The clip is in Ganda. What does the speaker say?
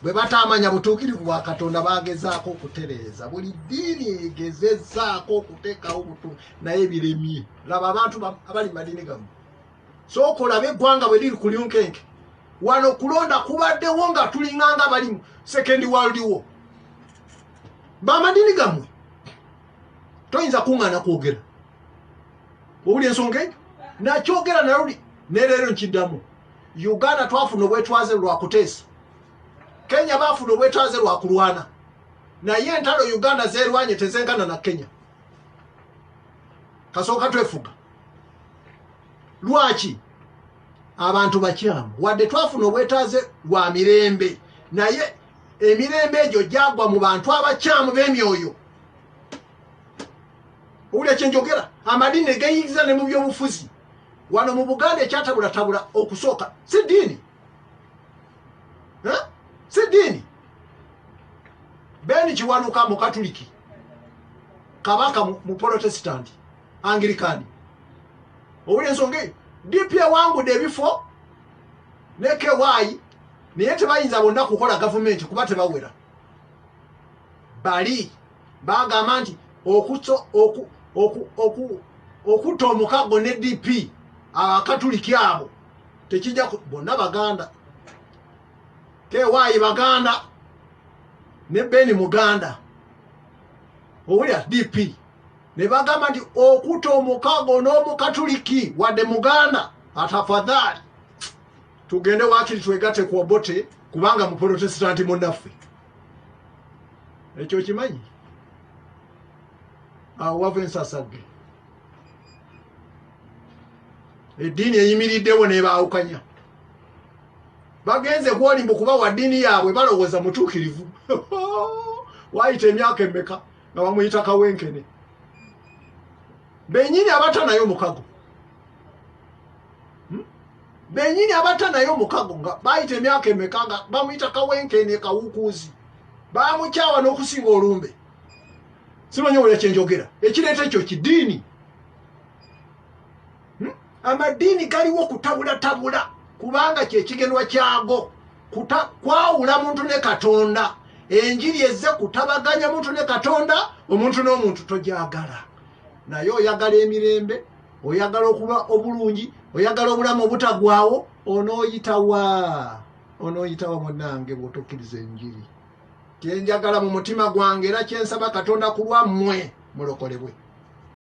bwe bataamanya butuukirivu bwa katonda bagezaako okutereeza buli ddiini egezezaako okuteekawo butu naye biremye laba abantu abali madiini gamu sooka olabe eggwanga bwe liri ku lyunkenke wano kulonda kubaddewo nga tulinganga bali mu second world wo bamadiini gamwe toyinza kuŋŋaana kwogera owuli ensonga eyo nakyogera naluli neleero nkiddamu uganda twafuna obwetwaze lwakuteesa kenya bafuna obwetwaze lwakulwana naye entalo uganda zerwanye tezenkana na kenya kasooka twefuga lwaki abantu bakyamu wadde twafuna obwetaaze lwa mirembe naye emirembe egyo gyagwa mu bantu abakyamu b'emyoyo owulira kyenjogera amadiini negeyingiza ne mu byobufuzi wano mu buganda ekyatabulatabula okusooka si diini si diini beni kiwanuka mu katuliki kabaka mu protesitanti angirikani owulira ensonga eyo dp ewangude ebifo ne ky naye tebayinza bonna kukola gavumenti kuba tebawera bali bagamba nti okutta omukaggo ne dp abakatuliki abo tekijja bonna baganda kewayi baganda ne beni muganda owulira dp ne bagamba nti okutta omukaggo n'omukatuliki wadde muganda atafadhaali tugende wakiri twegate ku obote kubanga muprotesitanti munaffe ekyo okimanyi awo wava ensasagge eddiini eyimiriddewo nebaawukanya bagenze kwoli mbu kuba wa ddiini yaabwe balowooza mutuukirivu waayita emyaka emmeka nga bamuyita kawenkene benyini abata naye omukago benyini abata naye omukago nga bayita emyaka emeka nga bamuyita kawenkene kawukuuzi bamukyawa n'okusinga olumbe simanyi owola kyenjogera ekireeta ekyo kidiini hmm? amadiini galiwo kutabulatabula kubanga kyekigenwa kyago kwawula muntu ne katonda enjiri ezze kutabaganya muntu ne katonda omuntu n'omuntu tojagala naye oyagala emirembe oyagala okuba obulungi oyagala obulamu obutagwawo onoyitawa onoyitawa munange bwotokkiriza enjiri kyenjagala mu mutima gwange era kyensaba katonda kulwammwe mulokolebwe